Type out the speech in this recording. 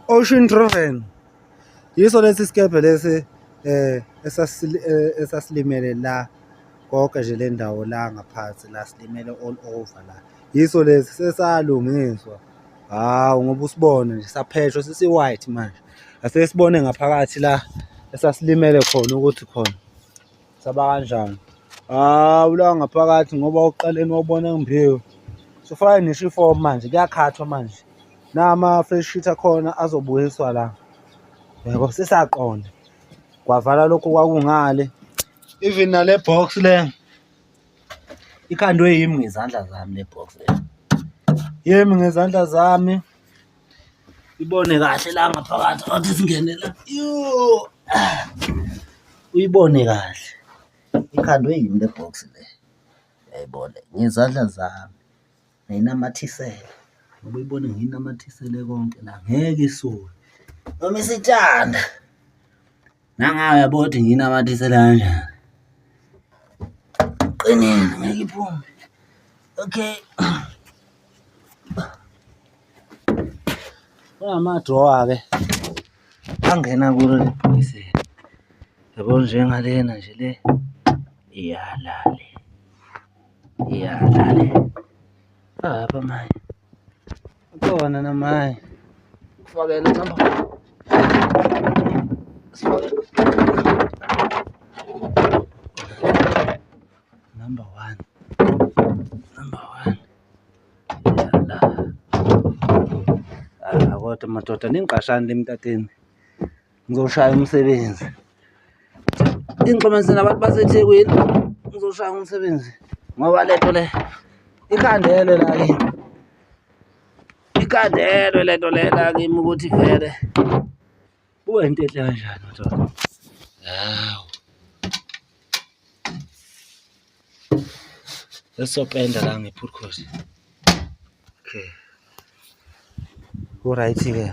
Ocean Driven yiso lesi sikebhe lesi eh, eh esasilimele la konke nje le ndawo la ngaphansi la silimele all over la yiso lesi sesalungiswa hawu ngoba usibone nje sapheshwa sisi white manje asesibone ngaphakathi la esasilimele khona ukuthi khona Saba kanjani? Ah, ulawa ngaphakathi ngoba uqaleni wabona ngimbiwe. Sifake nisho ifomu manje, kuyakhathwa manje. Nama-fresh sheet akhona azobuyiswa la. Yabo, sisaqonda. Kwavala lokhu kwakungale. Even nale box le ikhandwe yimi ngezandla zami le box le. Yimi ngezandla zami. ibone kahle la ngaphakathi athi singene la uyibone kahle ikhandwe yini le box le yayibone ngezandla zami ngayinamathisele ngoba uyibone ngiyinamathisele konke la ngeke isule noma isitshanda Nangayo yabo ukuthi ngiyinamathisele kanjani. Qinile ngeke iphume. Okay. Kunama-drawer-ke angena kulo leli bhokisi. Yabo njengalena nje le iyala le. Iyala le. Apha manje. Ukhona namaye. Kufakela noma. Number 1. Number 1. Yala. Ah, kodwa madoda ningqashani lemtateni. Ngizoshaya umsebenzi. Ingixhumanise nabantu baseThekwini. Ngizoshaya umsebenzi ngoba lento le ikhandelwe la kimi. Ikhandelwe lento le la kimi ukuthi vele kube into enhle kanjani mthola. Hawu. Esopenda la ngephurkhosi. Okay. Uright ke.